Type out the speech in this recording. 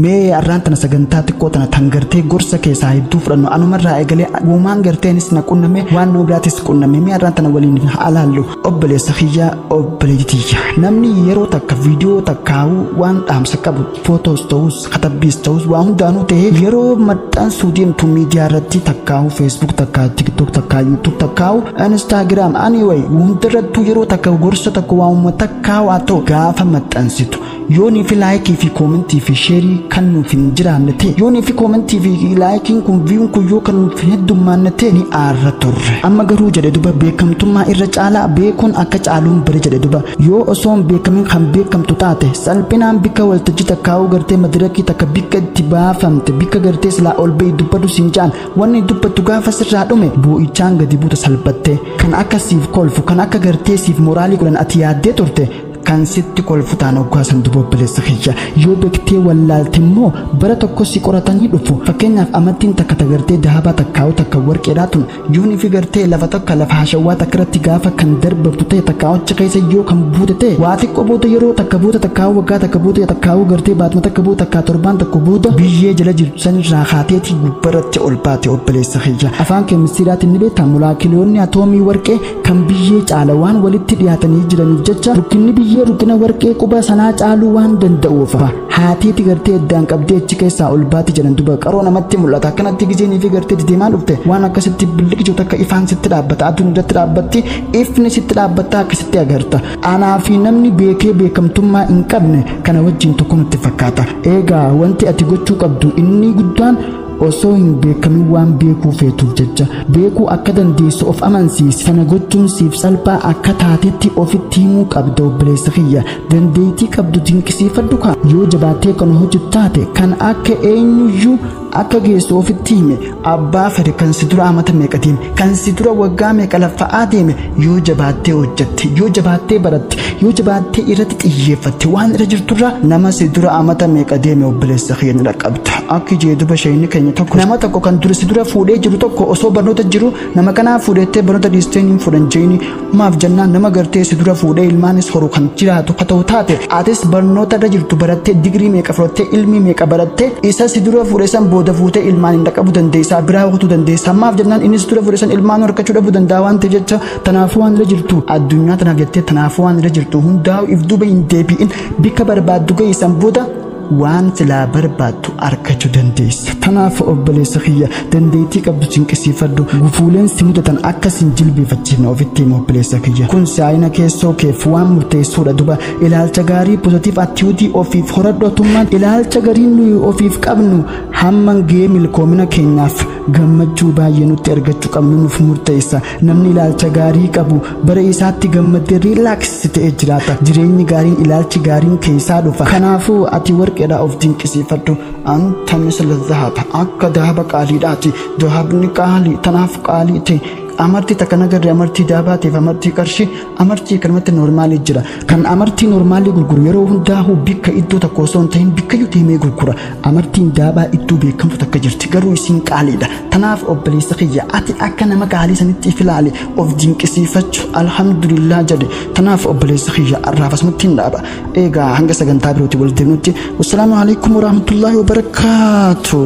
mee arraan tana sagantaa xiqqoo tana tan gartee gorsa keessaa hedduu fudhannu anumarraa eegalee uumaan garteenis na qunname waan nama biraatis qunname mee arraan tana waliin haa laallu obboleessa kiyyaa obboleetti tiyya namni yeroo takka viidiyoo takkaa'uu waan dhaamsa qabu footoos ta'us katabbiis ta'us waa hundaanuu ta'ee yeroo maxxansuu deemtu miidiyaa irratti takkaa'uu feesbuuk takkaa tiktook takkaa yuutuub takkaa'uu instaagiraam anyway hundarrattuu yeroo takka gorsa takka waamuma takkaa'u haa ta'u gaafa maxxansitu Yoonii fi laayikii fi koomentii fi sheerii kan nuuf hin jiraanne ta'e yoonii fi koomentii fi laayikiin kun viyuun kun yoo kan nuuf hin heddummaanne ta'e ni aarra turre amma garuu jedhe duba beekamtummaa irra caalaa beekuun akka caaluun bari jedhe duba yoo osoo hin beekamin kan beekamtu taate salphinaan bikka waltajjii takkaa'uu gartee madirakii takka bikka itti baafamte bikka gartee silaa ol ba'i dubbadhu siin jaan wanni dubbattu gaafa sirraa dhume boo'ichaan gadi buuta salphattee kan akka siif kolfu kan akka gartee siif moraalii godhan ati yaaddee turte kan sitti kolfutaan oggaa san duba obboleessa kiyya yoo bektee wallaalte immoo bara tokko si qoratanii dhufu fakkeenyaaf amattiin takka tagartee dahabaa takkaa'u takka warqeedhaa tun yoon ifi gartee lafa takka lafa hashawwaa takka irratti gaafa kan darbabdu ta'e takka achi keessa yoo kan buute ta'e waa xiqqoo booda yeroo takka booda takkaa'u waggaa takka booda takkaa'u gartee baatuma takka booda takkaa torbaan tokko booda biyyee jala jirtu sanirraa kaateetii gubbaratti ol baate obboleessa kiyya afaan keemistiiraatiin ni beektaa molaakiloonni atoomii warqee kan biyyee caala waan walitti dhiyaatanii jiraniif jecha rukkinni biyyee rukkina warqee quba sanaa caaluu waan danda'uuf haateeti gartee addaan qabdee achi keessaa ol baati jedhan duba qaroo namatti mul'ata akkanatti gizeenii fi gartee dedeemaa dhufte waan akkasitti billiqjo takka ifaan sitti dhaabbata aduun irratti dhaabbatti ifni sitti dhaabbatta akkasitti agarta anaa fi namni beekee beekamtummaa hin qabne kana wajjin tokko nutti fakkaata eegaa wanti ati gochuu qabdu inni guddaan Osoo hin beekamin waan beekuu feetuuf jecha beekuu akka dandeessu of amansiisi. Sana gochuun siif salphaa akka taatetti ofitti himuu qabda obboleessa kiyya. Dandeettii qabdu dinqisiifadhu kaa. Yoo jabaattee kan hojjetu taate kan akka eenyuyyuu akka geessu ofitti hime abbaa fedhe kan si dura amata meeqa deeme kan si dura waggaa meeqa laffa'aa deeme Yoo jabaattee hojjatte, yoo jabaattee baratte, yoo jabaattee irratti xiyyeeffatte waan irra jirturra nama si dura amata meeqa deeme obboleessa kiyya ni dhaqqabda. Akki jee duba sheeyni keenya tokko nama tokko kan dura si dura fuudhee jiru tokko osoo barnoota jiru nama kanaa fuudhettee barnoota dhiistee hin fuudhan jeeni maaf jennaan nama gartee si dura fuudhee ilmaanis horu kan jiraatu ka ta'u taate atis barnoota irra jirtu barattee digirii meeqa fudhattee ilmii meeqa barattee isa si dura fuudhe san booda fuutee ilmaan hin dhaqqabu dandeessaa biraa kutuu dandeessaa maaf jennaan inni si dura fuudhe san ilmaan horkachuu dhabuu danda'a waan ta'e jecha tanaafuu waan irra jirtu addunyaa tanaaf jettee tanaafuu waan irra jirtu hundaa if duuba hin deebi'in bikka barbaaddu geessan booda waan silaa barbaaddu argachuu dandeessa. Tanaaf obboleessa kiyya dandeettii qabdu cinqisiifadhu gufuuleen si mudatan akka sin jilbeeffachiifne ofitti hima obboleessa kiyya. Kun si'aayina keessoo keef waan murteessuudha duba ilaalcha gaarii pozitiif attiyuutii ofiif horadhu atummaan ilaalcha gariin nuyi ofiif qabnu hamman ga'ee milkoomina keenyaaf gammachuu baay'ee nutti argachuu qabnu nuuf murteessa namni ilaalcha gaarii qabu bara isaatti gammadee riilaaksisi ta'ee jiraata jireenyi gaariin ilaalchi gaariin keessaa dhufa kanaafuu ati warqeedhaa of dinqisiifadhu anta misla zahaba akka dahaba qaaliidhaati dahabni qaalii tanaaf qaalii ta'e amartii takka nagarree amartii daabaatiif amartii qarshii Amartii kanumatti noormaalii jira. Kan amartii noormaalii gurguru yeroo hundaa'u bikka iddoo tokko osoo hin ta'in bikkayyuu deemee gurgura. Amartiin daabaa iddoo beekamtu takka jirti garuu isiin qaaliidha. Tanaaf obboleessa kiyya ati akka nama qaalii sanitti if ilaali of dinqisiifachu alhamdulillah jedhi. Tanaaf obboleessa kiyya arraaf asumatti hin dhaaba. Eegaa hanga sagantaa birootiin wal deemnutti wassalaamu alaikum warahmatullaahi wabarakaatuh.